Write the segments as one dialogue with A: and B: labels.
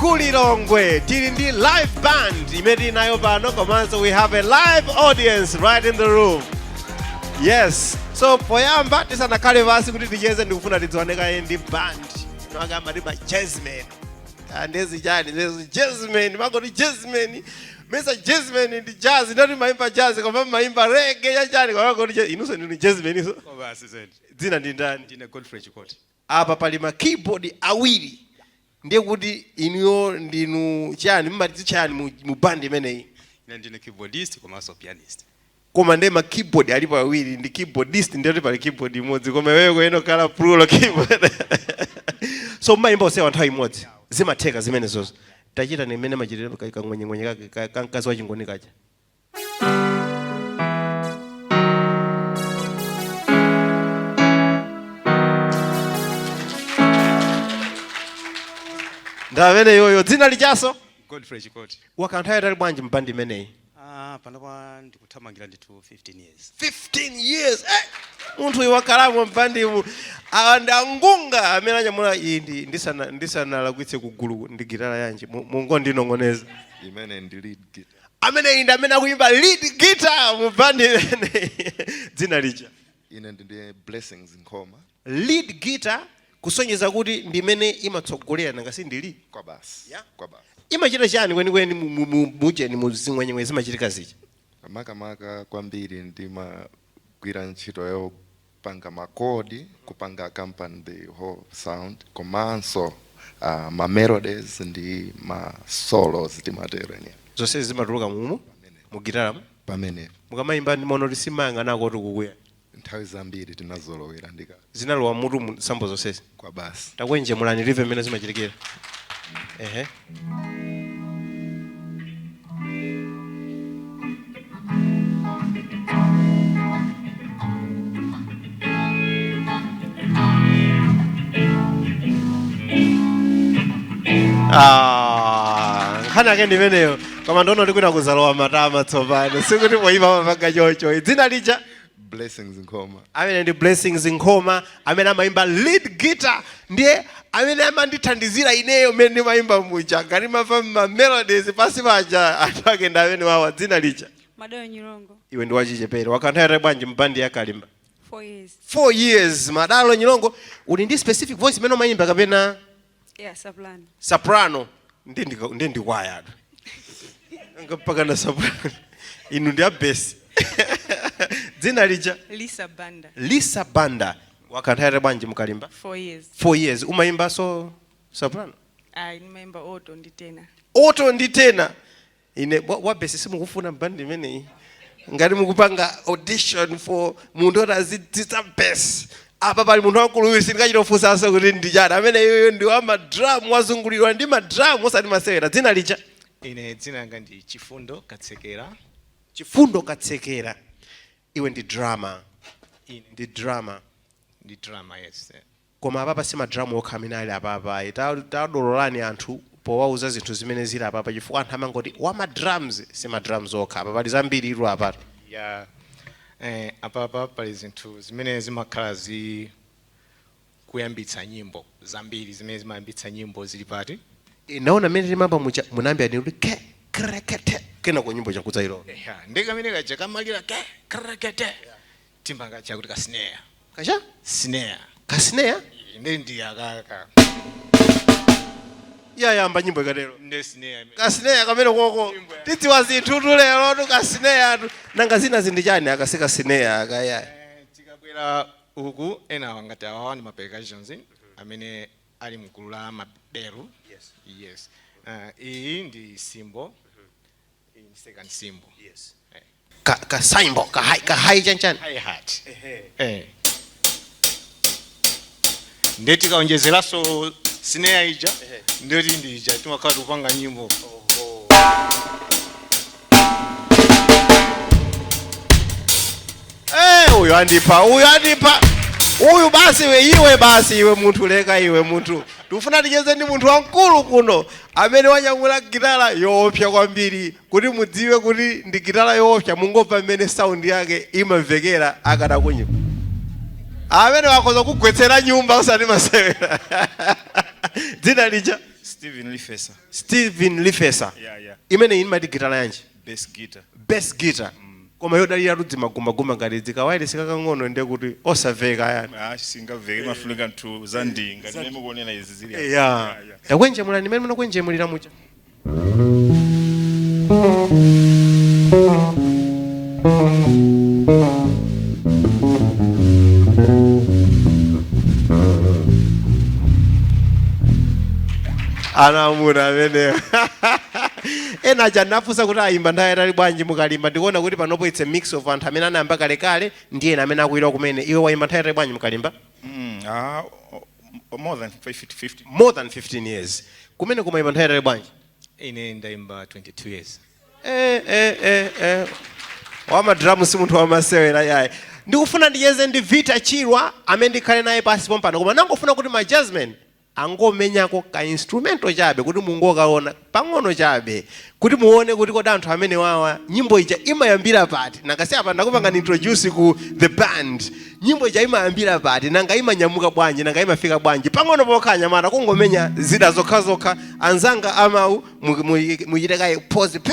A: ku Lilongwe tili ndi live band imene tili nayo pano komanso we have a live audience right in the room yes so poyamba tisanakhale pansi kuti ticheze ndikufuna tidziwane kaye ndi band enawake amati ma jazzmen andezi chani ndezi jazzmen mangoti jazzmen mesa jazzmen ndi jazz ndiye kuti mmaimba jazz koma mmaimba reggae yachani koma mangoti inunso ndinu jazzmen iso Koma asizeni. dzina
B: ndi ndani Ndine
A: Godfrey Chikoti.
B: Apa pali
A: ma keyboard awiri ndiye kuti inuyo ndinu chani mmadzitcha chani mu mu band imeneyi? Ine ndine keyboardist
B: komanso pianist. Koma nde ma
A: keyboard alipo awiri ndi keyboardist ndiye kuti pali keyboard imodzi koma iweyo ukuyenera kukhala plural keyboard so mmayimba onsewa nthawi imodzi zimatheka zimenezozo tachitani mmene amachitira ka- kaching'wenyeng'wenye kake ka ka mkazi wachingoni kaja. ndi ameneyoyo dzina lijanso Godfrey Chikoti
B: mwakhala nthawi yaitali bwanji
A: mbandi imeneyi ah,
B: panopa ndikuthamangira ndithu 15 years 15
A: years eh? munthu uyu wakhalamo mbandimu awa ndi angunga amene anyamula iyi ndi- ndisana- ndisanalakwitse kugulu ndi gitala yanji Mu- mungondinong'oneza imeneyi ndi lead
C: guitar ameneyi ndi amene
A: akuyimba lead guitar mu band imeneyi dzina lija ine ndine
C: Blessings Nkhoma lead guitar
A: kusonyeza kuti ndi imene imatsogolera nanga si ndi lead kwabasi Yeah.
C: kwabasi imachita chani
A: kwenikweni mu- mu- mu- mujeni mu zing'wenyeng'wenye zimachitika zija makamaka
C: kwambiri ndimagwira ntchito yo- panga ma chord kupanga accompany the whole sound komanso uh, ma melodies ndi ma solos timatero ya zonsezi
A: zimatuluka mumu mu gitaramu
C: pamene mukamayimba ndimaona
A: kuti simayang'anako kuti kuti kuya nthawi zambiri
C: tinazolowera ndiye ka zinalowa mmutumu
A: sambo zonsezi
C: kwabasi takwenjemulani live
A: mmene zimachitikira ehe Ah, nkhani yake ndi imeneyo koma ndikuona kuti kwayamba kulowa matama tsopano sikuti poyima mmapanga chocho dzina lija
C: Blessings Nkhoma. ameneyo ndi
A: Blessings Nkhoma amene amayimba lead guitar ndiye amene amandithandizira ineyo mmene ndimayimba muja ngati mmamva mamelodies pansi paja anthu ake ndi amenewawa dzina lija Madalo
D: Nyirongo, iwe ndi
A: wachichepere wakhala nthawi yaitali bwanji mbandi ya Kalimba
D: four years. 4 years
A: Madalo Nyirongo uli ndi specific voice imene umayimba kapena Yeah,
D: soprano.
A: soprano nde ndika- ndi ndikwaya atu Anga mpaka na soprano inu ndi abesi dzina lija Liza
D: Banda. lisa
A: banda wakanthawi bwanji mukalimba Four years. four
D: years umayimbaso
A: soprano
D: Ndimayimba alto ndi tenor. alto ndi tenor
A: ine wa- wabesi simukufuna mbandi imeneyi ngati mukupanga audition for munthu oti adzitsitsa besi apa pali munthu wamkuluyu sindikachita kufunsanso kuti ndi chani ameneyu iyoyo ndi wa madramu wazungulirwa ndi madramu osati masewera dzina lija ine dzina
E: langa ndi chifundo katsekera
A: chifundo katsekera iwe ndi drummer ine ndi drummer ndi
E: drummer yes Koma apapa si
A: ma drum okha amene ali apapa ayi, ta tadololani anthu powauza zinthu zimene zili apapa chifukwa anthu amangoti wa ma drums, si ma drums okha apa pali zambiritu apatu. Ya,
E: eh, apapa pali zinthu zimene zimakhala zi kuyambitsa nyimbo, zambiri zimene zimayambitsa nyimbo zili pano. Eh, ndaona
A: mmene timayamba muja munayambira ndinu kuti ke kre ke te kenako nyimbo ija nkudzailowa. Eya, nde kamene kaja
E: kamalira ke kre ke te timati kaja akuti ka snare
A: kacha
E: snare ka
A: snare ndi
E: ndi
A: akaka yayamba nyimbo ikatero ndi snare
E: imeneyo. ka snare kameneko
A: tidziwa zinthutu lerotu ka snare atu nanga zina zi ndi chani aka si ka snare aka ya Eh,
E: tikabwera uku ena awa ngati awawa ndi mapercussions amene ali mgulu la maberu yes Eh, iyi ndi cymbal
A: ka ka cymbal ka hai ka hai chan chan hi
E: hat eh ndeti tikaonjezeraso snare ija ndeti ndija timakhala tikupanga nyimbo
A: Eh, uyu andipa uyu andipa uyu basi iwe iwe basi iwe munthu leka iwe munthu tikufuna ticheze ndi munthu wamkulu kuno Amene wanyamula gitala yoopsa kwambiri, kuti mudziwe kuti ndi gitala yoopsa mungomva mmene sound yake imamvekera akatakunya ameneyo akhoza kukugwetsera nyumba osati masewera dzina lija Steven Lifesa. Steven Lifesa Yeah, yeah. imeneyi
F: imati gitala
A: yanji Bass guitar.
F: bass guitar koma
A: yodaliratu zimagumbagumba ngati ndi kawayiresi kakang'ono ndiye kuti osamveka ayi Ah, singamveke imafunika
F: zinthu za ndi ngati mmene mukuonera izi zili apa. ya takwenjemulani
A: mmene munakwenjemulira muja anamuna amene Ena aja ndinafunsa kuti ayimba nthawi yaitali bwanji mu kalimba ndikuona kuti panopo it's a mix of anthu amene anayamba kalekale ndi ena amene akulowa kumene iwe wayimba nthawi yaitali bwanji mu kalimba Mm, ah, o-
F: o- more than 50, 50. more than 15
A: years kumene kumayimba nthawi yaitali bwanji ine
E: ndayimba 22 years eh, eh, eh,
A: eh. wamadramu si munthu wamasewera yaye ndikufuna ndicheze ndi vita chirwa amene ndikhale naye pansi pompano koma nangofuna kuti ma jazzmen angomenyako ka instrumental chabe kuti mungokaona pang'ono chabe kuti muone kuti kodi anthu amenewawa nyimbo ija imayambira pati nanga si apa ndakupangani introduce ku the band nyimbo ija imayambira pati nanga imanyamuka bwanji nanga imafika bwanji pang'ono pokha anyamata kungomenya zida zokhazokha anzanga amawu mu- mu- muchite kaye pause pe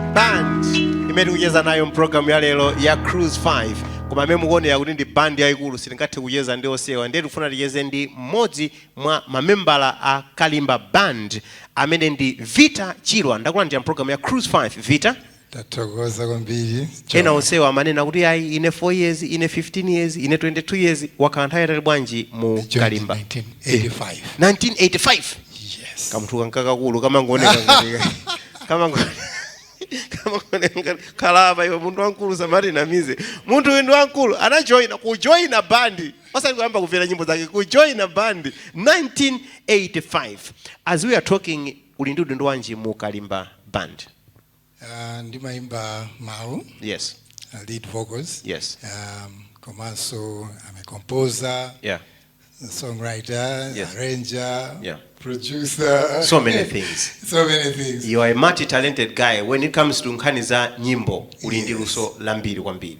A: band imene tikucheza nayo mpulogalamu ya lero ya cruise 5 koma mmene mukuonera kuti ndi band yayikulu sitingathe kucheza ndi onsewa ndiye tikufuna ticheze ndi mmodzi mwa mamembala a kalimba band amene ndi vita chirwa ndakulandira mpulogalamu ya cruise 5 vita
G: tathokoza kwambiri ena
A: onsewa amanena kuti ayi ine 4 years ine 15 years ine 22 years wakhala nthawi yaitali bwanji mu kalimba 1985 1985
G: yes kamunthu kakakulu
A: kamangooneka ngati- khalapa iwe munthu wamkulu asamatinamize munthu uyu ndi wamkulu anajoina kujoina bandi osati kuyamba kumvera nyimbo zake kujoina bandi 1985 as we are talking uli ndi udindo wanji mu kalimba band
G: uh, ndimayimba mawu yes uh,
A: lead vocals
G: yes um,
A: komanso
G: I'm a composer yeah
A: songwriter,
G: yes. arranger,
A: yeah.
G: producer. So many things.
A: so many things.
G: You are a multi-talented
A: guy. When it comes to nkhani za nyimbo, uli ndi luso lambiri kwambiri.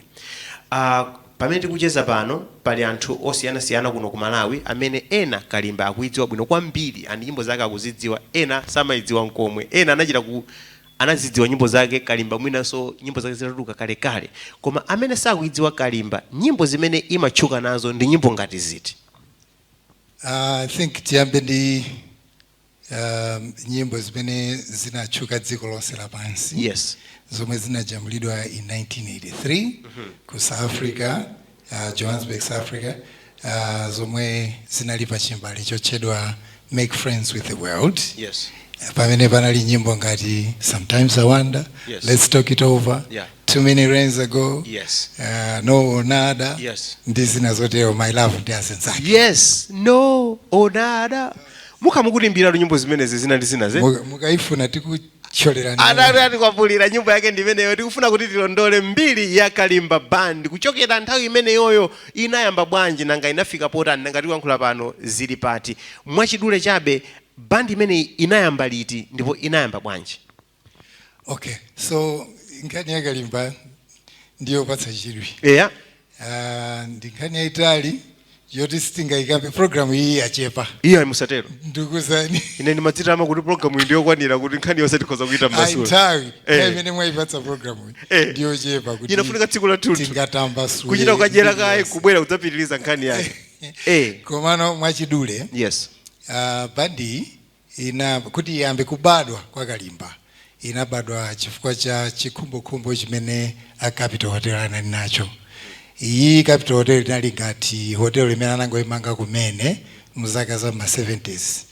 A: Uh, pamene tikucheza pano pali anthu osiyanasiyana kuno ku malawi amene ena kalimba akuidziwa bwino kwambiri and nyimbo zake akuzidziwa ena samaidziwa nkomwe ena anachita ku anazidziwa nyimbo zake kalimba mwinanso nyimbo zake zinatuluka kalekale koma amene sakuidziwa kalimba nyimbo zimene imatchuka nazo ndi nyimbo ngati ziti
G: I think tiyambe ndi um, nyimbo zimene zinatchuka dziko lonse lapansi yes zomwe
A: zinajambulidwa
G: in 1983 ku south africa uh, Johannesburg, South Africa, uh, zomwe zinali pa chimbale chotchedwa Make Friends with the World. Yes. Uh,
A: pamene panali
G: nyimbo ngati Sometimes I Wonder, yes. Let's Talk It
A: Over,
G: yeah. Too Many
A: Rains
G: Ago, yes. uh,
A: No
G: or Nada, yes. ndi
A: zina
G: zotero My Love ndi azinzake. Yes, No
A: or Nada. Muka mukutiimbira nyimbo zimenezi zina ndi zina ze. Muka, muka ifuna tiku
G: Tcholera nena. atati
A: atikwapulira nyimbo yake ndi imeneyo tikufuna kuti tilondole mbiri ya kalimba band kuchokera nthawi imeneyoyo inayamba bwanji nanga inafika potani nanga tikuyankhula pano zili pati mwachidule chabe band imeneyi inayamba liti ndipo inayamba bwanji Okay,
G: so nkhani ya kalimba ndiyopatsa chidwi. eya Ah, ndi nkhani yayitali yoti sitingayikambe program iyi yachepa ayi musatero
A: ndikuuzeni ine
G: ndimadzitama
A: kuti programu iyi ndiyokwanira kuti nkhani yonse tikhoza kuitamba ayi nthawi Eh. nthawi
G: imene mwayipatsa program iyi Eh. ndiyochepa imafunika tsiku
A: lathunthu tingatambasule
G: kuchita kuyikanjera kaye
A: iliyonse. kubwera kudzapitiriza nkhani yake eh komano
G: mwachidule yes
A: ah, bandi
G: ina, kuti iyambe kubadwa kwa Kalimba, inabadwa chifukwa cha chikhumbokhumbo chimene a Capital Hotel anali nacho. Iyi Capital Hotel inali ngati hotel imene anangoimanga kumene mu zaka za m'ma 70's.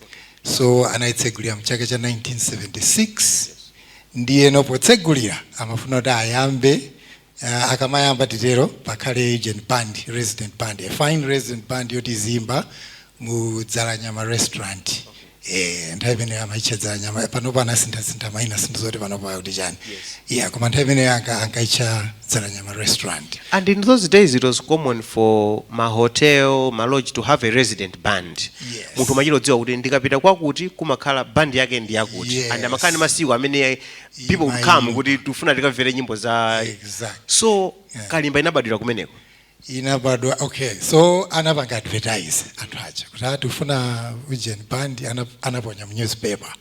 G: So anaitsegulira mchaka cha 1976, ndiyeno potsegulira amafuna kuti ayambe Uh, akamayamba titero pakhale ujeni band resident band a fine resident band yoti iziyimba mu dzalanyama restaurant eh, nthawi imeneyo amaitcha dzalanyama panopo anasinthasintha maina sindidziwa kuti panopo akuti chani yeah, koma nthawi imeneyo anka- ankaitcha dzalanyama restaurant And in those
A: days, it was common for ma hotel, ma lodge to have a resident band. Yes. Munthu umachita
G: kudziwa kuti
A: ndikapita kwakuti kumakhala band yake ndi yakuti. Yes. And amakhala ndi masiku
G: amene
A: Iyi people would come mayimbidwa. kuti tifuna tikamvere nyimbo za Exact.
G: so
A: kalimba inabadwira kumeneko inabadwa
G: okay so anapanga advertise anthu aja kuti tikufuna ujeni band ana- anaponya mu newspaper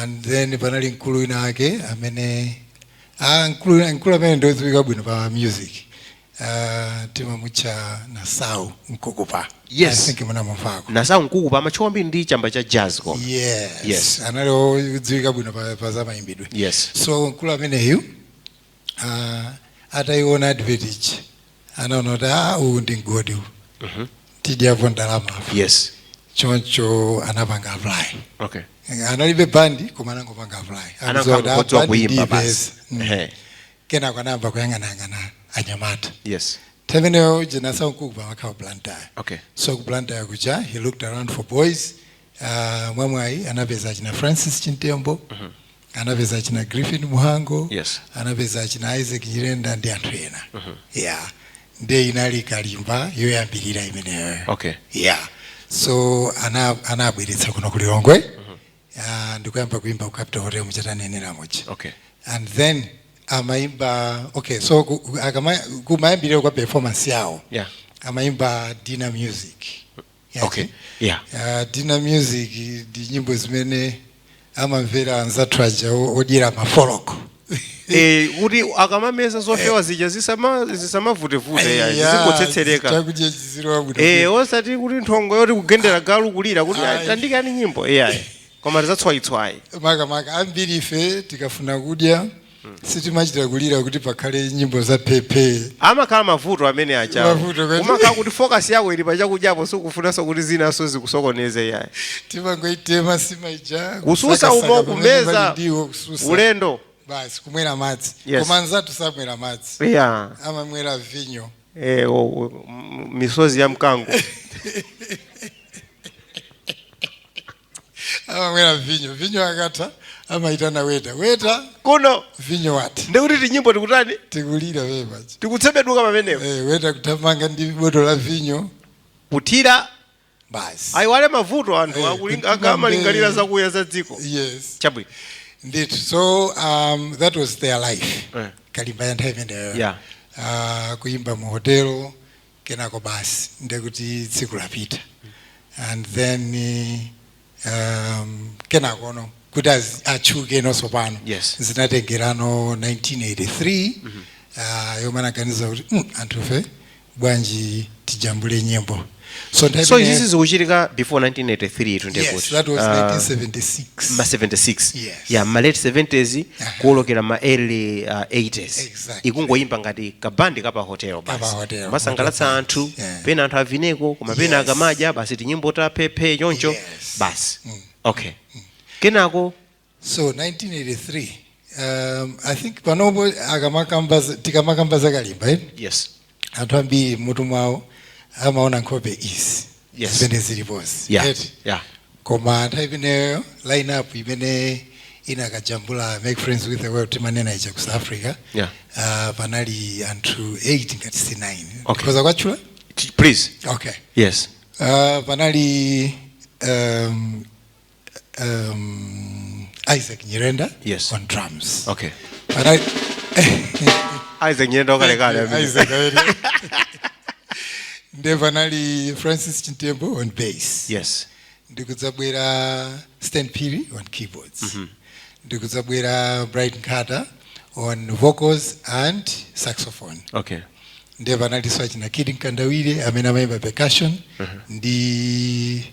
G: and then panali mkulu winawake amene ah, mkulu wina- mkulu amene ndodziwika bwino pa music Uh, timamutcha nasau mkukupa yes. I
A: think
G: munamumvako nasau mkukupa
A: amatchuka kwambiri ndi chamba cha jazz ko yes. yes.
G: anali
A: odziwika
G: bwino pa, pa zamayimbidwe yes. so mkulu
A: ameneyu
G: uh, atayiona advert ija anaona kuti ah, uwu ndi mgodi uwu mm -hmm. tidyapo ndalama
A: yes.
G: choncho anapanga apply okay.
A: analibe bandi
G: koma anangopanga apply anangodziwa kuti ah, bandi
A: ndipeza mm.
G: kenako anayamba kuyang'anayang'ana anyamata
A: yes nthawi imeneyo ujeni
G: nasau mkukupa amakhala blantyre okay so
A: ku blantyre
G: kuja he looked around for boys uh, mwamwayi anapeza achina francis chintembo anapeza achina griffin mhango Yes.
A: anapeza
G: achina isaac nyirenda ndi anthu ena yeah nde inali kalimba yoyambirira imeneyo okay yeah so ana- anabweretsa kuno ku lilongwe ah, ndikuyamba kuimba ku capital hotel muja tanenera muja okay and then amaimba okay so ku- ku- akama- kumayambirira kwa performance yawo yeah amaimba dinner music Yazi?
A: okay yeah Ah, dinner
G: music ndi nyimbo zimene amamvera anzathu aja o- odyera mafoloko
A: Eh, kuti akamameza zofewa zija zisama- zisamavutevute ya zizingotsetsereka chakudya
G: chizilowa bwino Eh, osati kuti nthongo
A: yoti kugendera galu kulira kuti Ayi. tandikani nyimbo iyayi koma tizatswayitswayi makamaka ambiri
G: ife tikafuna kudya sitimachita kulira kuti pakhale nyimbo za phephe amakhala
A: mavuto amene aja Mavuto kwezi. umakhala kuti focus yako ili pachakudyapo sikufunanso kuti zinanso zikusokoneze iyayi timangoitema
G: nsima ija Kususa kusakasaka umo pamene
A: kumeza. pali ndiwo, Susa. ulendo basi
G: kumwera madzi Yes. koma
A: anzathu
G: samwera madzi yeah.
A: amamwera
G: vinyo eh, o- o- m- misozi
A: ya mkango
G: amamwera vinyo vinyo akatha amayitana weta weta kuno
A: vinyo watha
G: ndekuti tinyimbo
A: tikutani tikulira pepachi
G: tikutsebeduka pamenepo
A: Eh, weta kuthamanga
G: ndi botolo la vinyo kuthira basi ayiwale
A: mavuto anthu Eh, akulinga- kuti aka- akamalingalira pambe- zakuya za dziko yes chabwino ndithu so
G: um, that was their life Eh. kalimba ya nthawi imeneyo Yeah.
A: uh,
G: kuyimba mu hotelo kenako basi ndekuti tsiku lapita and then eh, um, kenakono kuti az- atchukenonso pano Yes.
A: zinatengerano 1983
G: ah, yomwe anaganiza kuti "Mm, anthufe bwanji tijambule nyimbo so nthawi so imene-
A: izizi zikuchitika before 1983 tu Yes, ndekuti that was
G: Ah, 1976 ma 76 Yeah.
A: ya ma
G: late
A: 70s kuolokera ma early uh, 80s Exactly.
G: ikungoyimba
A: ngati kabandi ka pa hotel Ka pa basi hotel, kumasangalatsa hotel
G: anthu basi,
A: yeah. pena
G: anthu
A: avineko
G: koma
A: pena Yes. akamadya basi tinyimbo ta phephe choncho Yes. basi okay kenako so
G: 1983 um, i think panopo akamakamba za- tikamakamba zakalimba eh? yes
A: anthu
G: ambiri m'mutu mwawo amaona nkhope izi Yes.
A: zimene
G: zilipozi Yeah, Eti? yeah. koma
A: nthawi
G: imeneyo line up imene inakajambula make friends with the world timanena ija ku south africa Yeah.
A: uh,
G: panali anthu 8 ngati si 9 Okay. nkhoza kuwatchula T- Please.
A: okay Yes.
G: uh,
A: panali
G: um, um, Isaac Nyirenda Yes. on
A: drums.
G: Okay. Panali
A: Isaac Nyirenda wakalekale amene. Isaac
G: Nyirenda. Nde panali Francis Chintembo on bass. Yes.
A: ndikudzabwera
G: stan phiri on keyboards ndikudzabwera bright nkhata on vocals and saxophone Okay.
A: nde panalinso
G: achina kid mkandawire amene amayimba percussion ndi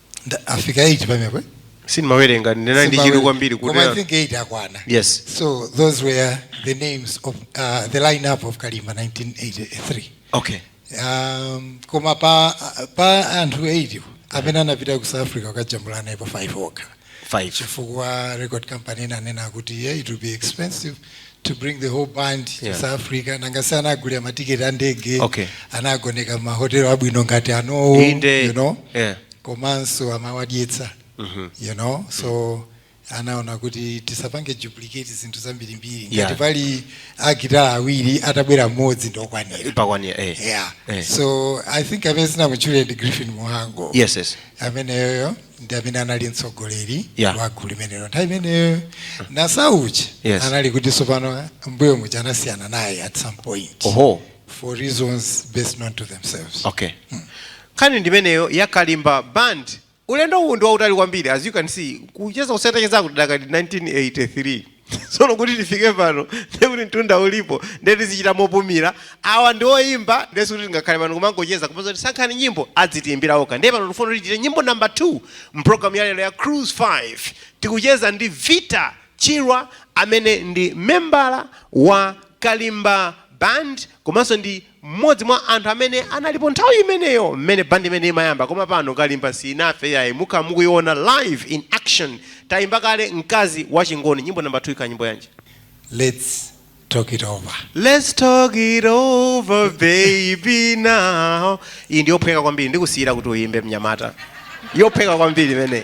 G: Ndani afika 8 pamenepo
A: sindimawerenga ndinali ndi chidwi kwambiri kuti koma i think 8
G: akwana yes so
A: those were
G: the names of uh, the lineup of kalimba 1983 okay um, koma pa, pa anthu 8 amene anapita ku south africa kukajambula naye pa 5 okha five chifukwa
A: record
G: company inanena kuti yeah, it will be expensive to bring the whole band yeah. to South Africa nanga si anagulira matiketi a ndege okay.
A: anagoneka
G: mahotelo abwino ngati anowa you know yeah. komanso amawadyetsa mm -hmm. you know so mm -hmm anaona kuti tisapange duplicate zinthu zambirimbiri ngati yeah. pali agitala awiri atabwera mmodzi ndokwanira eh. yeah.
A: eh. so
G: i think amene sinamutchule ndi griffin muhango yes, yes.
A: ameneyoyo
G: ndi amene anali mtsogoleri Yeah. wa gulu limenelo nthawi imeneyo na sauchi Yes. anali kuti sopano mbuyo muja anasiyana naye at some point oho for reasons best known to themselves
A: okay nkhani ndimeneyo yakalimba band ulendo uwu ndi wautali kwambiri as you can see kucheza kuseri kucheza kudakali 1983 tsono kuti tifike pano ndiye kuti mtunda ulipo ndiye tizichita mopumira awa ndi oyimba ndiye sikuti tingakhale pano kumangocheza komanso kuti sankhani nyimbo adzitiimbira okha ndiye pano tifuna kuti tichite nyimbo namba 2 mpulogalamu ya lero ya cruise 5 tikucheza ndi vita chirwa amene ndi membala wa kalimba band komanso ndi Mmodzi mwa anthu amene analipo nthawi imeneyo mmene band imeneyi imayamba koma pano Kalimba siinafe iyayi mukhala mukuiona live in action taimba kale Mkazi wachingoni nyimbo number 2 ikhala nyimbo yanji?
G: Let's talk it over. Let's
A: talk it over baby now iyi ndi yophweka kwambiri ndikusiyira kuti uimbe mnyamata yophweka kwambiri imeneyi.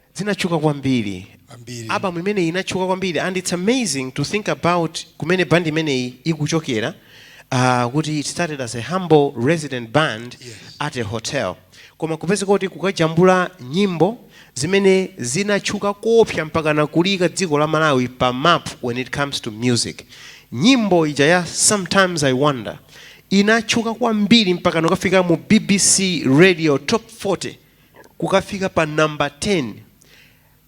A: zinatchuka kwambiri Kwambiri. album imeneyi inatchuka kwambiri and it's amazing to think about kumene band imeneyi ikuchokera uh, kuti it started as a humble resident band Yes. at a hotel koma kupeza kuti kukajambula nyimbo zimene zinatchuka kopsa mpaka nakuliika dziko la malawi pa map when it comes to music nyimbo ija ya sometimes i wonder inatchuka kwambiri mpaka nokafika mu bbc radio top 40 kukafika pa namba 10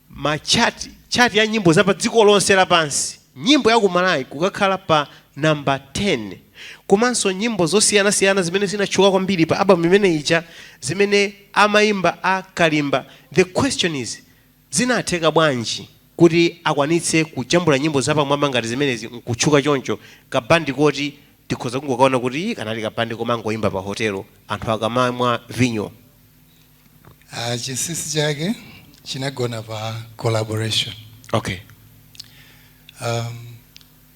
A: ma chart chart ya nyimbo za pa dziko lonse lapansi nyimbo ya kumalawi kukakhala pa namba 10 komanso nyimbo zosiyanasiyana zimene zinatchuka kwambiri pa album imene ija zimene amayimba a kalimba the question is Zinatheka bwanji kuti akwanitse kujambula nyimbo zapamwamba ngati zimenezi n'kutchuka choncho? Ka band koti tikhoza kungokaona kuti ii kanali ka band komangoimba pa hotelo anthu akamamwa vinyo. Aaa chinsinsi
G: chake chinagona pa collaboration. Okay.
A: Aaa.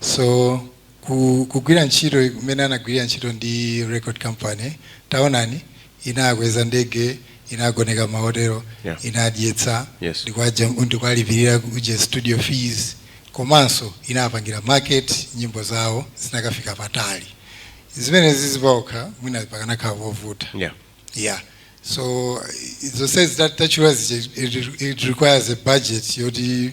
G: so ku- kugwira ntchito kumene anagwirira ntchito ndi record company taonani inakweza ndege inagoneka mahotelo Yeah. inadyetsa Yes. ndikwaja- ndikwalipirira kuja studio fees komanso inapangira market nyimbo zawo zinakafika patali zimene zizi paokha mwina pakanakhala povuta yeah Yeah. So the sense that that was it, it, it requires a budget. You the,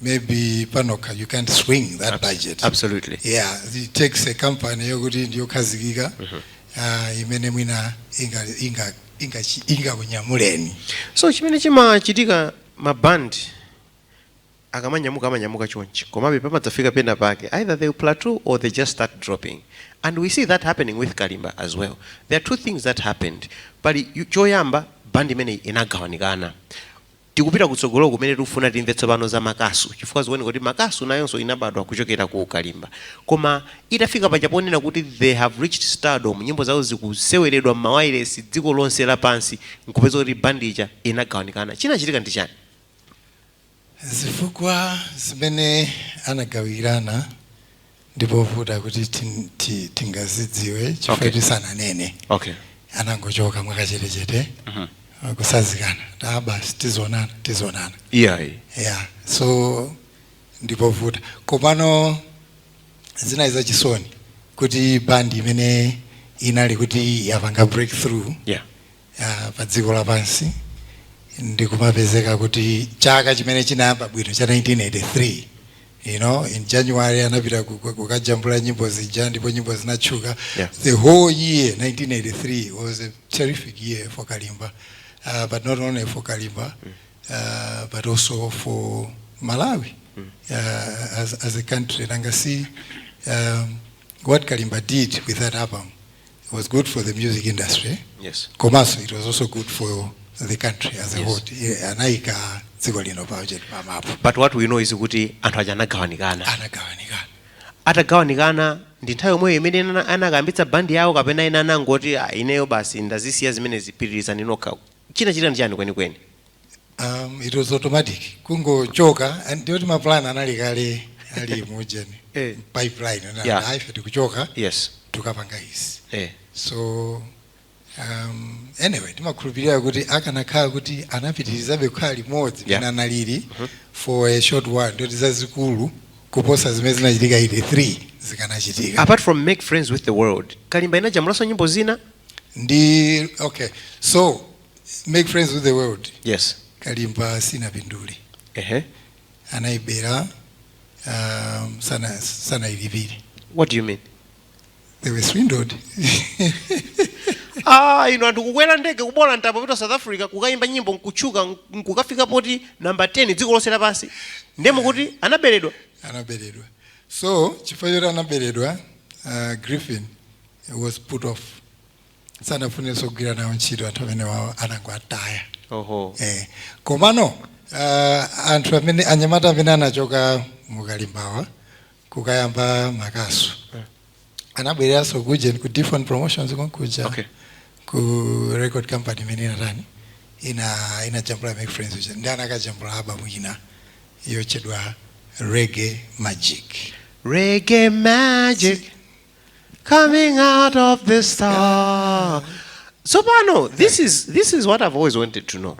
G: maybe panoka you can't swing that Abs budget. Absolutely. Yeah,
A: it takes
G: a company yokuti ndiyo khazikika mm -hmm. uh, imene mwina inga inga inga inga kunyamuleni. So chimene
A: chimachitika ma band akamanyamuka amanyamuka chonchi komabe pamadzafika pena pake either they plateau or they just start dropping and we see that happening with Kalimba as well. There are two things that happened. Pali yu- choyamba band imeneyi inagawanikana. Tikupita kutsogolo kumene tikufuna timve tsopano za makasu chifukwa zikuoneka kuti makasu nayonso inabadwa kuchokera ku Kalimba. Koma itafika paja ponena kuti they have reached stardom nyimbo zawo zikuseweredwa m'mawayilesi dziko lonse lapansi nkupeza kuti band ija inagawanikana. Chinachitika ndi chani?
G: Zifukwa zimene anagawirana ndipovuta kuti tingazidziwe chifukwa okay. sananene okay.
A: anangochoka
G: mwakachetechete uh mhm. -huh. kusazikana ta basi tizionana tizionana yeah.
A: yeah.
G: so ndipovuta komano zinali zachisoni kuti bandi imene inali kuti yapanga breakthrough yeah. ya
A: pa dziko
G: lapansi ndikumapezeka kuti chaka chimene chinayamba bwino cha 1983 you know in january anapita ku- ku- kukajambula nyimbo zija ndipo nyimbo zinatchuka Yeah. the whole year 1983 was a terrific year for kalimba uh, but not only for kalimba uh, but also for malawi uh, as, as a country nanga si um, what kalimba did with that album it was good for the music industry yes
A: komanso it was
G: also good for the country as a Yes. whole Iye anayika dziko lino pamacheti
A: pamapu but what we know is kuti anthu aja anagawanikana anagawanikana atagawanikana ndi nthawi yomweyo imene ana- anakayambitsa bandi yawo kapena ena anangoti "Ah, ineyo basi ndazisiya zimenezi pitirizani nokha chinachitika ndi chani kwenikweni
G: Um, it was automatic kungochoka and ndioti maplan analipo kale ali mujeni Eh. pipeline Yeah. yeah. ife tikuchoka yes tukapanga
A: izi
G: eh. so um, anyway timakhulupirira kuti akanakhala kuti anapitirizabe kukhala limodzi Yeah. penanali for a short while ndoti zazikulu kuposa zimene zinachitika 83 zikanachitika apart from make friends
A: with the world kalimba inajambulanso nyimbo zina ndi
G: okay so make friends with the world yes kalimba sinapindule ehe anawabera um, sana sanawalipire what do you mean
A: they were
G: swindled
A: ah inu anthu kukwera ndege kuboola mtambo kupita south africa kukayimba nyimbo nkutchuka nk- nkukafika poti namba 10 dziko lonse lapansi ndiye mukuti anaberedwa anaberedwa
G: so chifukwa choti anaberedwa uh, griffin was put off sanafunenso kugwira nawo ntchito anthu amene wawo anangowataya oho eh. komano uh, anthu amene anyamata amene anachoka mukalimbawa kukayamba makasu anabwereranso kuja ku different promotions konkuja Okay. ku record company imene inatani ina inajambula make friends uja ndi anakajambula album ina yochedwa reggae magic reggae
A: magic coming out of the star tsopano this is, this is what i've always wanted to know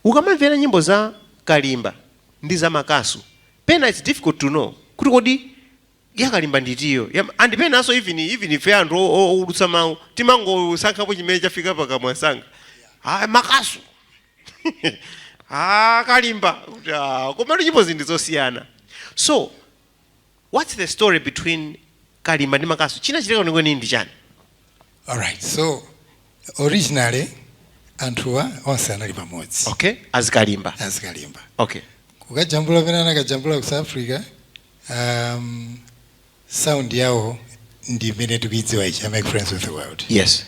A: ukamamvera nyimbo za kalimba ndi za makasu pena its difficult to know kuti kodi ya kalimba ndi itiyo Yam- and penanso even even ife anthu o- o- owulutsa mawu timangosankhapo chimene chafika pakamwa msanga ah, makasu ah, kalimba Kuti, ah, komatu nyimbo zake ndi zosiyana so What's the story between Kalimba ndi Makasu? Chinachitika kwenikweni ndi chani?
G: Alright, so originally anthuwa onse anali pamodzi. Okay, as Kalimba.
A: As Kalimba. Okay. Kukajambula
G: pamene anakajambula ku South Africa, um, sound yawo ndi imene tikuidziwa ija ya make friends with the world. Yes.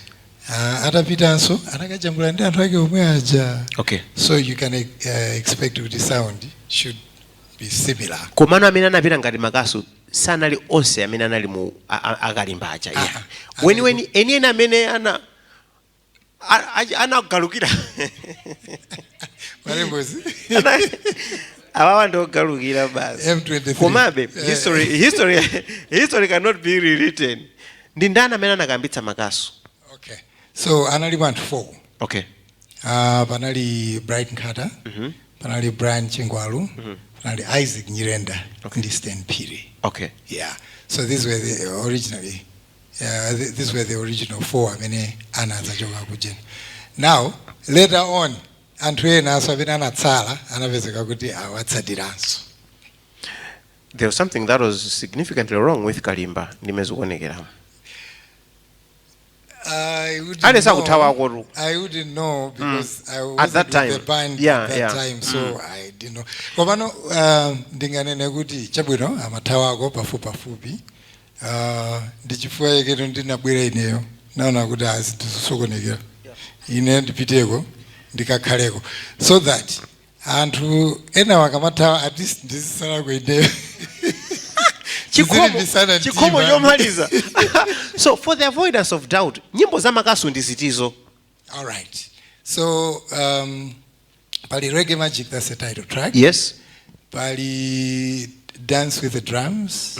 G: Uh,
A: atapitanso
G: anakajambula ndi anthu ake omwe aja. Okay. So you
A: can
G: uh, expect kuti sound should be similar. komano amene anapita
A: ngati makasu sanali onse amene anali mu a- a- akalimba aja yeah. Aha. weniweni enieni amene ana a- a- anagalukira
G: Marembozi.
A: Ana- awawa ndiogalukira basi M23. komabe Eh. history, history, history cannot be rewritten ndi ndani amene anakayambitsa makasu Okay.
G: So anali anthu four. okay
A: Ah,
G: panali bright nkhata panali brian chingwalu panali isaac nyirenda ndi stan phiri okay yeah
A: so
G: these were the originally uh, th- these were the original four amene anadzachoka kujeni now later on anthu enanso amene anatsala anapezeka kuti
A: awatsatiranso there was something that was significantly wrong with kalimba ndi mmene zikuonekera
G: I wouldn't aliyense know. akuthawako tu. I wouldn't know because I wasn't At that with time. the
A: band Yeah, at that
G: yeah. time, so I didn't know. Komano uh, ndinganene kuti chabwino amathawako pafupi pafupi uh, ndi chifukwa chake no ndinabwera ineyo ndinaona kuti aa izi zisokonekera ine ndipiteko ndikakhaleko so that anthu enawo akamathawa at least ndizitsalako ineyo chikhomo
A: Kulimbitsana chikhomo mtima. chomaliza so for the avoidance of doubt nyimbo za makasu ndi zitizo all
G: right so um, pali reggae magic that's the title track yes
A: pali
G: dance with the drums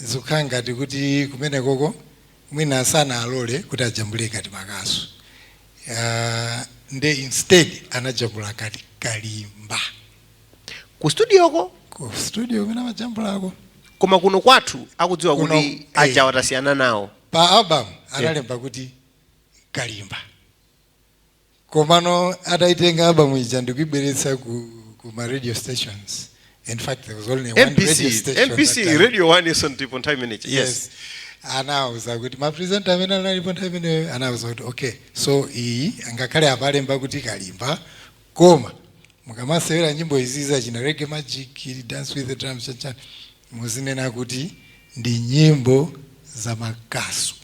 G: Zikukhala ngati kuti kumenekoko mwina sanalole kuti ajambule ngati makasu nde instead anajambula ngati kalimba.
A: Ku studio ko? Ku studio
G: kumene amajambulako. Koma kuno
A: kwathu akudziwa kuti eh. aja watasiyana nawo. Pa album
G: analemba kuti kalimba. komano ataitenga album ija ndikuibweretsa ku, ku ma radio stations in fact there was only one radio mbc station mbc that time. radio 1 iso
A: ndipo nthawi imeneja yes yes anauza
G: kuti mapresenta amene analipo nthawi imeneyo anauza kuti okay so iyi ngakhale apalemba kuti kalimba koma mukamasewera nyimbo izi zachina reggae magic dance with the drums chanchani muzinena kuti ndi nyimbo za makasu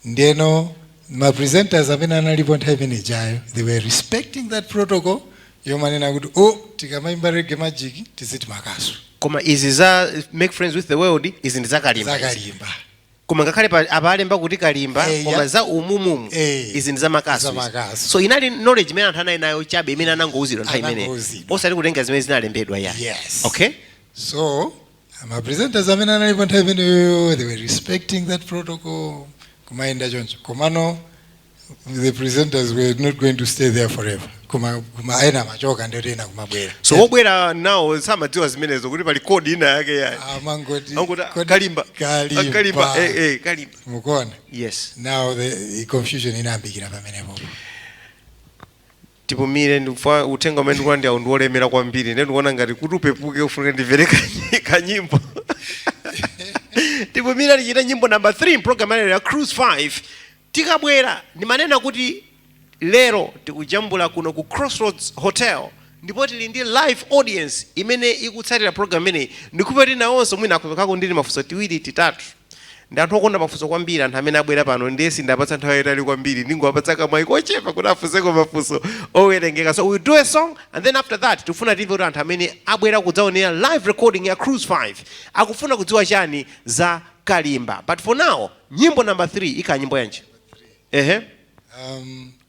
G: ndeno ma presenters amene analipo nthawi imene ijayo they were respecting that protocol yomanena kuti o oh, tikamaimba reggae magic tiziti makasu koma izi za
A: make friends with the world izi ndi zakalimba zakalimba koma ngakhale apalemba kuti kalimba hey, eh, koma za umumumu hey, eh, izi ndi zamakasu so inali knowledge imene anthu anali nayo chabe imene anangouzidwa nthawi imeneyo osati kutenga zimene zinalembedwa ya yes. okay
G: so ma presenters amene analipo nthawi imeneyo they were respecting that protocol kumayenda choncho komano the presenters were not going to stay there forever koma koma ena amachoka ndiye kuti ena kumabwera so
A: wobwera nawo samadziwa zimenezo kuti pali code ina yake yayi amangoti
G: Angoti, kodi-
A: kalimba kalimba
G: kalimba eh, eh, kalimba
A: mukuona yes
G: now
A: the, the
G: confusion inayambikira pamenepo
A: tipumire chifukwa uthenga umene ndikulandirawu ndi wolemera kwambiri nde ndikuona ngati kuti upepuke ufunika ndimvere kanyi- kanyimbo tipumire tichite nyimbo namba 3 mpulogalamu yalero ya cruise 5 tikabwera ndimanena kuti lero tikujambula kuno ku crossroads hotel ndipo tili ndi live audience imene ikutsatira program imeneyi ndikhulupirira kuti nawonso mwina akupekako timafunso tiwiri titatu Ndi anthu okonda mafunso kwambiri anthu amene abwera pano ndiye sindapatsa nthawi yayitali kwambiri ndingowapatsa kamwayi kochepa kuti afunseko mafunso owerengeka so we'll do a song and then after that tikufuna timve kuti anthu amene abwera kudzaonera live recording ya Cruise 5 akufuna kudziwa chani za Kalimba but for now nyimbo number 3 ikhala nyimbo yanji ehe Um,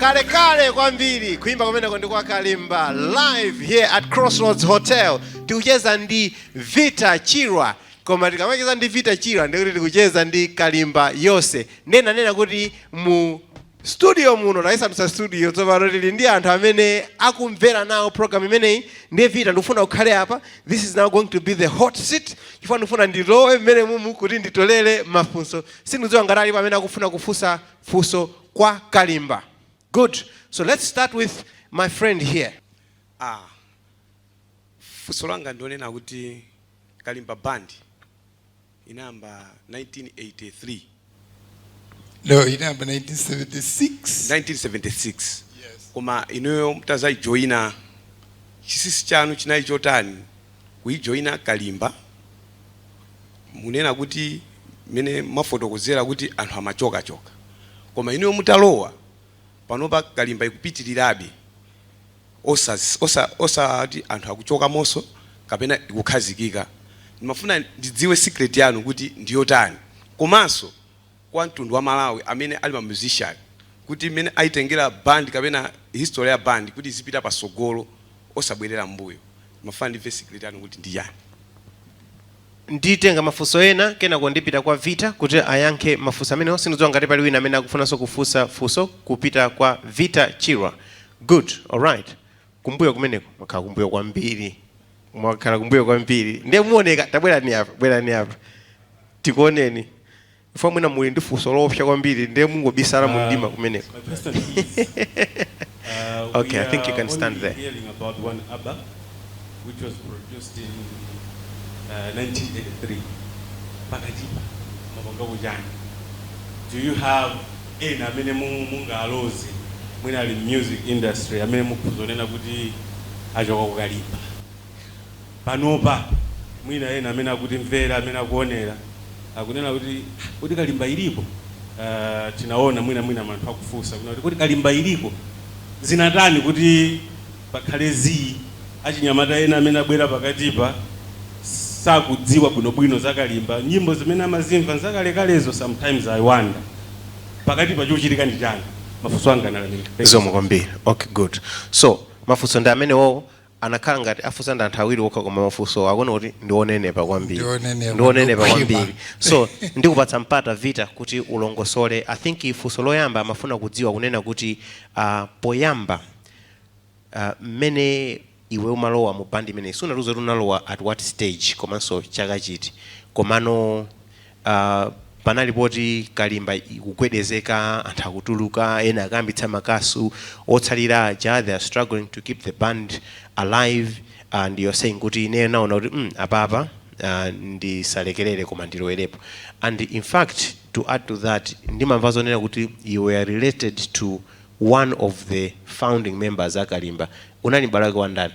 A: Kalekale kwambiri kuimba kumeneko ndi kwa Kalimba live here at Crossroads Hotel. Tikucheza ndi Vita Chirwa. Koma tikamacheza ndi Vita Chirwa ndiye kuti tikucheza ndi Kalimba yonse. Ndiye nanena kuti mu studio muno tayisandutsa studio tsopano tili ndi anthu amene akumvera nawo program imeneyi ndiye Vita ndikufuna ukhale apa this is now going to be the hot seat chifukwa ndikufuna ndilowe mmene mumu kuti nditolere mafunso sindikudziwa ngati alipo amene akufuna kufunsa funso kwa kalimba good so let's start with my friend here
B: ah funso langa ndi lonena kuti kalimba band inayamba 1983
G: no inayamba 1976 1976 yes. koma
B: inuyo mutazayijoyina chisisi chanu chinali chotani kuyijoyina kalimba ponena kuti mmene mwafotokozera kuti anthu amachokachoka koma inuyo mutalowa panopa Kalimba ikupitirirabe osati anthu akuchokamo'nso kapena ikukhazikika? Ndimafuna ndidziwe secret yanu kuti ndiyotani komanso kwa mtundu wa Malawi amene ali ma musician kuti mmene ayitengera band kapena history ya band kuti izipita patsogolo osabwerera m'mbuyo. Ndimafuna ndimve secret yanu kuti ndi chani. Nditenga
A: mafunso ena kenako ndipita kwa Vita kuti ayankhe mafunso amenewo. Sindikudziwa ngati pali wina amene akufunanso kufunsa funso kupita kwa Vita Chirwa. Good, alright. Kumbuyo kumeneko, mwakhala kumbuyo kwambiri. Mwakhala kumbuyo kwambiri. Ndiye muoneke, tabwerani apa, bwerani apa tikuoneni. Chifukwa mwina muli ndi funso loopsa kwambiri ndiye mungobisala mu mdima uh, kumeneko. Uh, okay, I think you can stand there. Hearing about one
H: album, which was produced in uh, 1983. Pakatipa, ma band ena ujeni. Do you have ena amene mungaloze mwina ali music industry amene mukhoza kunena kuti achoka ku Kalimba? Panopa mwina ena amene akutimvera, amene akuonera akunena kuti ah, kodi Kalimba iliko? Uh, tinaona mwina mwina anthu akufunsa kuti kodi Kalimba iliko? Zinatani kuti pakhale zii? Achinyamata ena amene abwera pakatipa sakudziwa bwinobwino za Kalimba. Nyimbo zimene amazimva nzakalekalezo. Sometimes I wonder pakati pa chochitika ndi chani? Mafunso anga analamika. Zikomo kwambiri.
A: Okay, good. So mafunso ndi amenewowo akhala ngati afunsa ndi anthu awiri okha koma mafunsowo akuoneka kuti ndi onenepa kwambiri Ndi onenepa, ndi onenepa ndi okhwima. kwambiri so ndikupatsa mpata vita kuti ulongosole i think funso loyamba amafuna kudziwa kunena kuti ah, poyamba ah, mmene iwe umalowa mu band imeneyi sunatiuze kuti unalowa at what stage komanso chaka chiti komano Aaa panali poti kalimba ikugwedezeka anthu akutuluka ena akayambitsa makasu otsalira aja they are struggling to keep the band alive and you're saying kuti ineyo naona kuti mm apapa aah ndisalekerere koma ndilowerepo and in fact to add to that ndimamva zonena kuti you were related to one of the founding members a kalimba unali m'bale wake wa ndani?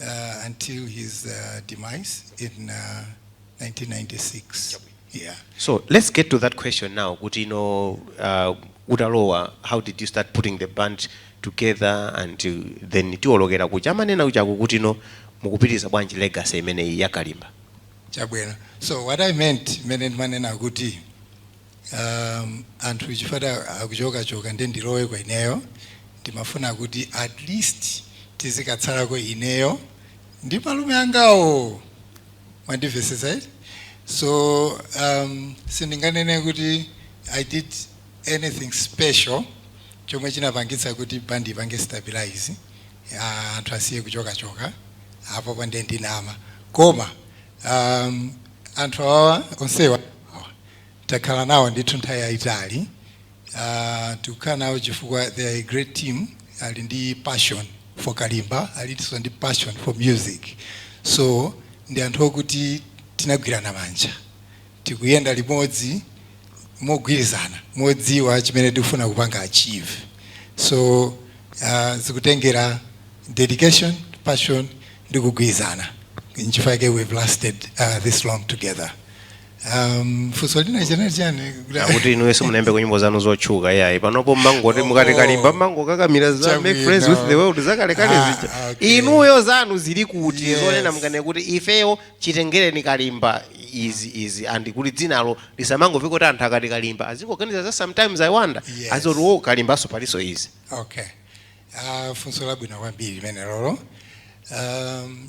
G: uh, until his uh, demise in uh, 1996. Yeah. So let's get to
A: that question now. Kuti you know, uh, utalowa, how did you start putting the band together and to, then tiwolokera kuja amanena kujako kuti no mukupitiriza bwanji legacy imeneyi ya Kalimba. Chabwino.
G: So what I meant, mene ndimanena kuti um, anthu chikhala akuchokachoka nde ndiloweko ineyo ndimafuna kuti at least tizikatsalako ineyo ndi malume angawo mwandimvetsetsa eti so um, sindinganene kuti i did anything special chomwe chinapangitsa kuti bandi ipange stabilize ah, anthu asiye kuchokachoka apopo nde ndinama koma um, anthu awawa onsewa takhala nawo ndithu nthawi yayitali uh, tikukhala nawo chifukwa they are a great team ali ndi passion for kalimba alinso ndi passion for music so ndi anthu okuti tinagwirana manja tikuyenda limodzi mogwirizana modziwa chimene tikufuna kupanga achieve so uh, zikutengera dedication passion ndi kugwirizana nchifukwa chake we've lasted uh, this long together Um, funso lina chenali chani akuti inuyo
A: simunaimbeko nyimbo zanu zotchuka iyayi panopo mmangoti mukati kalimba mmangokakamira za Chabwino. make friends with the world zakalekale Ah, zija okay. inuyo zanu zili kuti Yes. zonena mkane kuti ifeyo chitengereni kalimba izi izi and kuti dzinalo lisamangoveka kuti anthu akati kalimba azingoganiza za sometimes i wonder Yes. azoti oh kalimbanso palinso izi okay
G: uh, funso labwino kwambiri limenelolo um,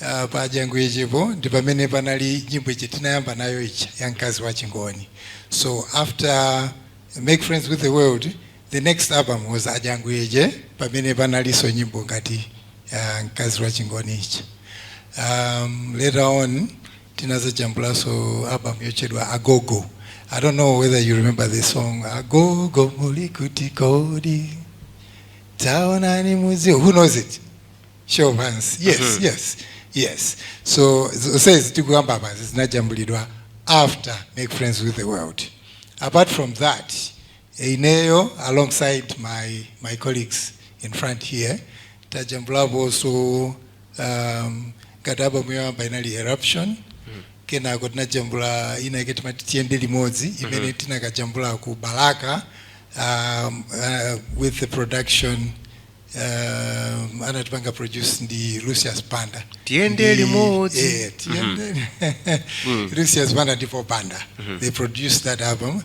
G: Ah, pa ajanguyejepo ndi pamene panali nyimbo ija tinayamba nayo ija ya mkazi wa chingoni so after make friends with the world the next album was ajanguyeje pamene panalinso nyimbo ngati ya mkazi wa chingoni ija um, later on tinazajambulanso album yotchedwa agogo i don't know whether you remember the song agogo muli kuti kodi taonani muzi who knows it show of hands yes mm -hmm. yes yes so zonsezi tikukamba apazi zinajambulidwa after make friends with the world apart from that ineyo alongside my, my colleagues in front here tajambulapo also um, ngati album yoyamba inali eruption mm. kenako tinajambula ina yake timati tiyende limodzi mm-hmm. imene mm -hmm. tinakajambula ku balaka um, uh, with the production uh, anatipanga produce ndi Lucius banda Tiyende Ndi-
A: limodzi. eh,
G: tiyende Lucius Banda ndi Paul Banda they produced that album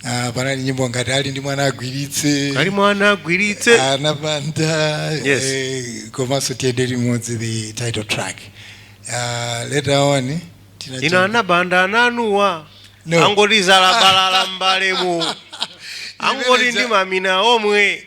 G: uh, panali nyimbo ngati ali ndi mwana agwiritse ali mwana agwiritse anaBanda Yes. eh, komanso tiyende limodzi the title track uh, later on
A: tinati- ino anabanda ananuwa No. angoti
G: zabalabalala
A: mbalemu angoti ndi mamina omwe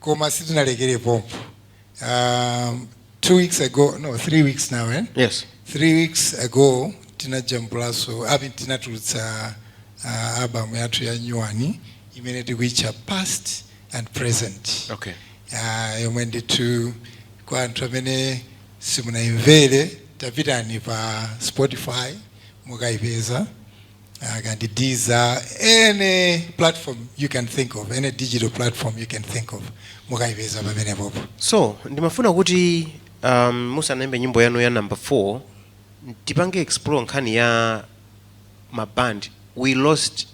G: koma sitinalekere pompo um, two weeks ago no three weeks now eh? yes three weeks ago tinajambulaso ah tinatulutsa uh, album yathu ya nyuwani imene tikuitcha past and present okay
A: uh,
G: yomwe ndithu kwa anthu amene simunayimvere tapitani pa spotify mukayipeza kaya ndi Deezer any platform you can think of any digital platform you can think of mukayipeza pamenepopo so ndimafuna
A: kuti um, musanaimbe nyimbo yanu ya number 4 tipange explore nkhani ya maband we lost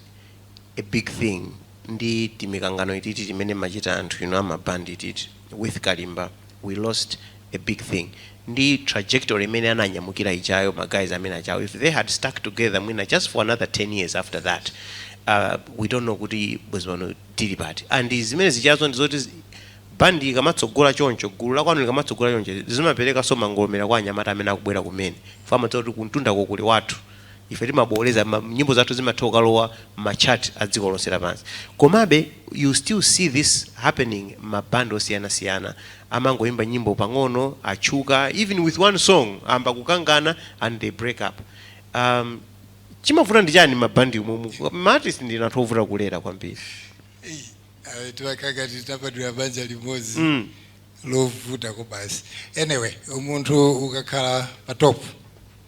A: a big thing ndi timikangano ititi timene mumachita anthu inu amaband ititi with kalimba we lost a big thing ndi trajectory imene ananyamukira ijayo ma guys amene ajawo if they had stuck together mwina just for another 10 years after that uh, we don't know kuti bwezi pano tili pati and zimene zijazo ndi zoti zi- bandi ikamatsogola choncho gulu la kwanu likamatsogola choncho zimapereka so mangolomela kwa anyamata amene akubwera kumene ife timati kuti kumtundako kuli wathu Ife timabooleza ma, nyimbo zathu zimatha kukalowa mma chart a dziko lonse lapansi. Komabe you still see this happening mma band osiyana siyana amangoyimba nyimbo pang'ono atchuka even with one song ayamba kukangana and they break up. Umm chimavuta ndi chani mma band mu, mu, ma artist ndinu anthu ovuta kulera kwambiri. Eish awe
G: timakhala ngati tinabadwira banja limodzi Mm. lovuta koma basi. Anyway munthu ukakhala pa top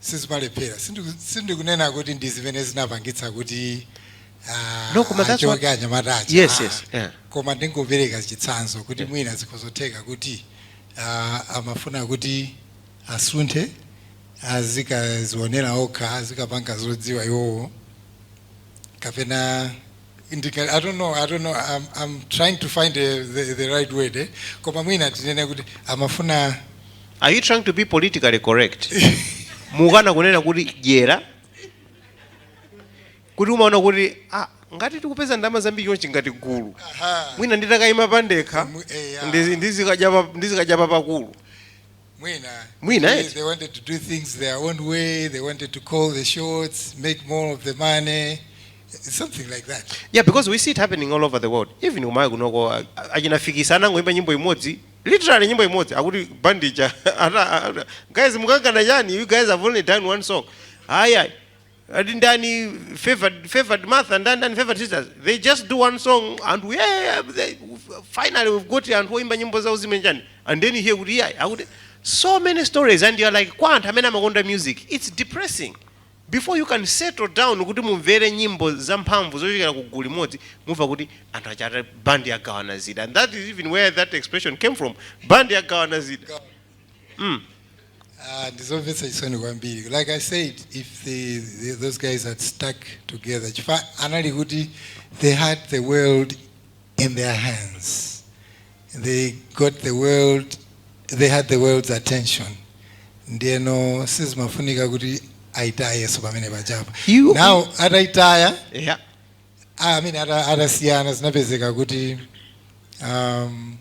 G: sizimalephera. Sindikunena kuti ndi zimene zinapangitsa kuti
A: achoke anyamata aja ayi, koma ndingopereka
G: chitsanzo kuti mwina zikhoza kutheka kuti amafuna kuti asunthe azikadzionera okha, azikapanga zodziwa iwowo kapena. i don't know i don't know i'm, I'm trying to find the, the, the right word eh? koma mwina tinene kuti amafuna are you
A: trying to be politically correct mukukana kunena kuti dyera kuti umaona kuti ah, ngati tikupeza ndalama zambiri chonchi ngati gulu mwina nditakayima pandekha eh, ndizikadya papakulu mwina mwina eti they wanted to
G: do things their own way they wanted to call the shots make more of the money something like that yeah because we see it
A: happening all over the world even umayi kunoko achinafikisa anangoimba nyimbo imodzi literally nyimbo imodzi akuti bandija guys mukangana chani you guys have only done one song haya ati ndani favored favored Martha ndani ndani favored sisters they just do one song and we yeah, they, finally we've got anthu oimba nyimbo zawo zimenjani and then you hear kuti yeah akuti so many stories and you're like kwa anthu amene amakonda music it's depressing before you can settle down kuti mumvere nyimbo zamphamvu zochokera ku gulu limodzi mumva kuti anthu achata band yagawana zida and that is even where that expression came from band yagawana zida mm.
G: Uh, ndizomvetsa chisoni kwambiri like i said if the, the, those guys had stuck together chifukwa anali kuti they had the world in their hands they got the world they had the world's attention ndiyeno sizimafunika kuti ayitayenso pamene paja pa You- now ataitaya yeah.
A: I
G: mean, ata, atasiyana zinapezeka kuti um,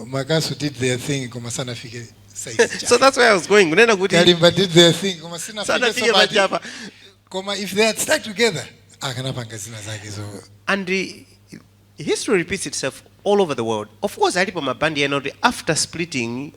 G: makasu did their thing koma sanafike size so that's where i was going
A: kunena kuti kalimba did their
G: thing koma sanafike sanafike so bad. paja
A: pa koma
G: if they had stuck together akanapanga zina zake zo and
A: the history repeats itself all over the world of course alipo mabandi ena kuti after splitting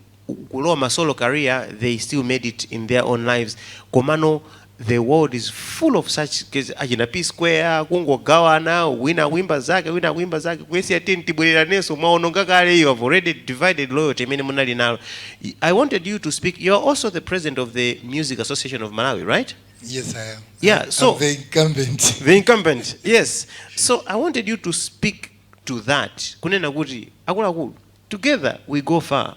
A: kulowa ma solo career they still made it in their own lives komano the world is full of such cases achina p square kungogawana wina akuimba zake wina akuimba zake kuyesiya teni tibwereranenso mwaononga kale you have already divided loyalty imene munali nalo Y- i wanted you to speak you are also the president of the music association of malawi right Yes, I am.
G: Yeah, I'm so- the
A: incumbent.
G: the incumbent
A: yes so i wanted you to speak to that kunena kuti akuluakulu Together we go far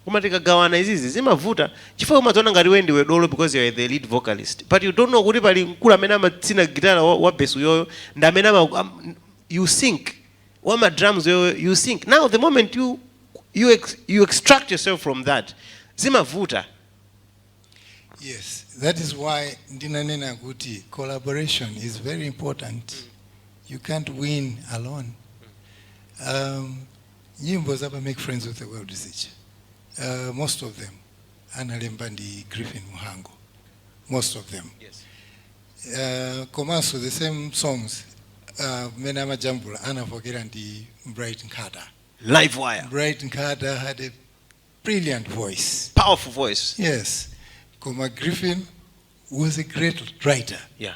A: koma tikagawana izizi zimavuta chifukwa umadziona ngati iweyo ndiwe dolo because you're the lead vocalist but you don't know kuti pali mkulu amene amatsina gitala wa wa besi uyoyo ndi amene ama am you sync wa ma drums uyoyo you sync now the moment you you ex, you extract yourself from that
G: zimavuta Yes, that is why ndinanena kuti collaboration is very important. You can't win alone. Um, Nyimbo za pa Make Friends With The World zija, uh, most of them analemba ndi Griffin Muhango, most of them
A: yes. Uh,
G: komanso the same songs uh, mene amajambula anavokera ndi Bright Nkhata. Live wire.
A: Bright Nkhata had
G: a brilliant voice. Powerful voice.
A: Yes.
G: Koma Griffin was a great writer. Yeah.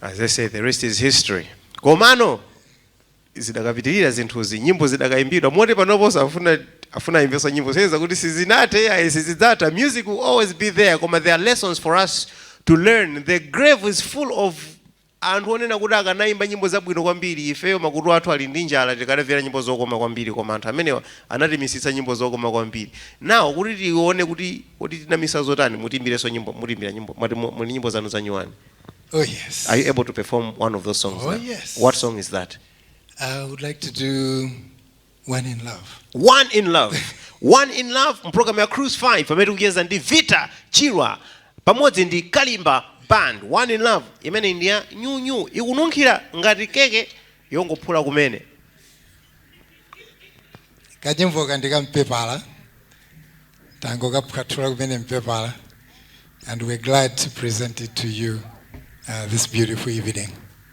A: as they say the rest is history komano zidakapitirira zinthuzi nyimbo zidakayimbidwa moti panoponso afuna afuna ayimbenso nyimbo kusonyeza kuti sizinathe ayi sizidzatha music will always be there koma there are lessons for us to learn the grave is full of Anthu onena kuti akanaimba nyimbo zabwino kwambiri, ifeyo makutu athu ali ndi njala tikanamvera nyimbo zokoma kwambiri koma anthu amenewa anatimisitsa nyimbo zokoma kwambiri. Now kuti tione kuti kodi tinamisa zotani mutiimbirenso nyimbo, mutiimbira nyimbo mwati muli ndi nyimbo zanu zanyuwani. Oh
G: yes. Are you able to perform
A: one of those songs Oh now? yes. What song is
G: that? I
A: would like
G: to do One in love. one in
A: love one in love mpulogalamu ya cruise 5 pamene tikucheza ndi vita chirwa pamodzi ndi kalimba band one in love imene ndi ya nyunyu ikununkhira ngati keke yongophula
G: kumene kanyimbo ka ndi ka mpepala tangokaphwathula kumene mpepala and we're glad to present it to you uh, this beautiful evening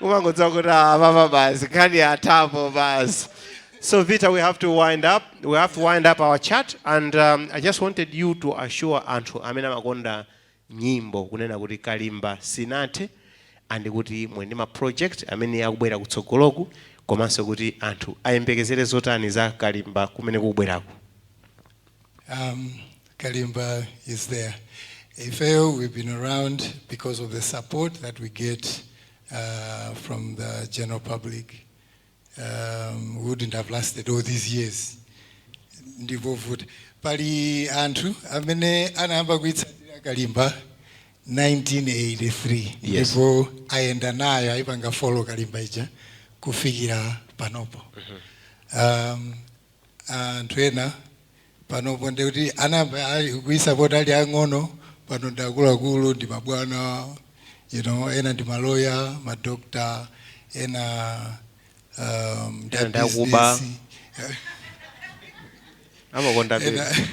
A: umangodziwa kuti apapa basi nkhani yathapo basi so vita we have to wind up we have to wind up our chat and um, i just wanted you to assure anthu amene amakonda nyimbo kunena kuti kalimba sinathe and kuti muli ndi ma project amene akubwera kutsogoloku komanso kuti anthu ayembekezere zotani za kalimba kumene kubwerako
G: Um, Kalimba is there. Ifeyo, we've been around because of the support that we get uh, from the general public. Um, we wouldn't have lasted all these years. Ndivovuta. Pali anthu amene anayamba kuitsatira Kalimba 1983 Yes. ndipo
A: ayenda
G: nayo ayipanga follow Kalimba ija kufikira panopo. Um, anthu ena panopo ndikuti anayamba kuisapota ali ang'ono pano ndi akuluakulu ndi mabwana you know ena ndi maloya madokta ena um, ndi Ena
A: ndi akuba. abusiness. amakonda
G: ena bebe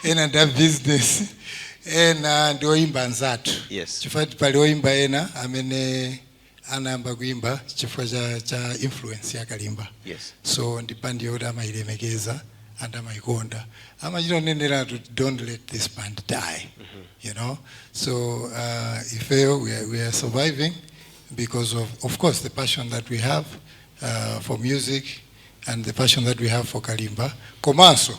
G: ena ndi abusiness ena ndi oyimba anzathu yes chifukwa pali
B: oyimba
G: ena amene anayamba kuimba chifukwa cha cha influence ya kalimba yes so ndi
B: band yoti
G: amayilemekeza and amayikonda amachita kuneneratu kuti don't let this band die you know so uh, ifeyo we are, we are surviving because of of course the passion that we have uh, for music and the passion that we have for kalimba komanso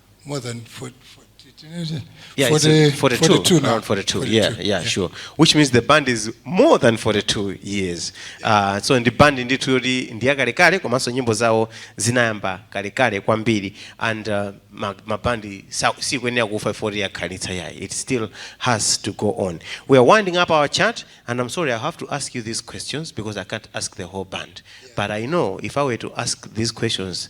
G: more than 40, 40
A: yeah, 40, 42, 42 now. around 42, 42 yeah, yeah, yeah, sure which means the band is more than 42 years uh, so ndi band ndithu yoti ndi yakalekale komanso nyimbo zawo zinayamba kalekale kwambiri and uh, ma- mabandi sa- sikuyenera kufa 40 yakhalitsa yayi it still has to go on we are winding up our chat and i'm sorry i have to ask you these questions because i can't ask the whole band but i know if i were to ask these questions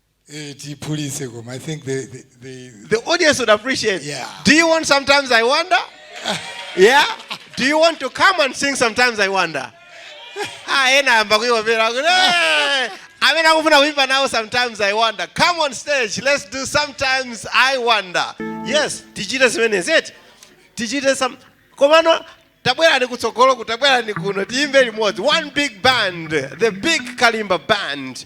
A: Eh, tiphulise
G: koma i think the, the, the, the
A: audience would appreciate yeah. do you want
G: sometimes
A: i wonder yeah do you want to come and sing sometimes i wonder ah ena amba kuiwapera kuti "Eh, amene akufuna kuimba nawo sometimes i wonder come on stage let's do sometimes i wonder yes tichite zimenezi eti tichite some komano tabwerani kutsogolo ku tabwerani kuno tiyimbe limodzi one big band the big kalimba band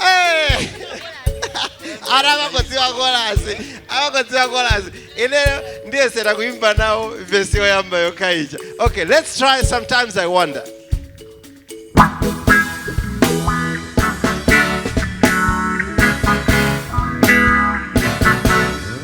A: Eh! anthu amangodziwa kolasi amangodziwa kolasi ineyo ndiyesera kuimba nawo vesi yoyamba yokha ija okay let's try sometimes i wonder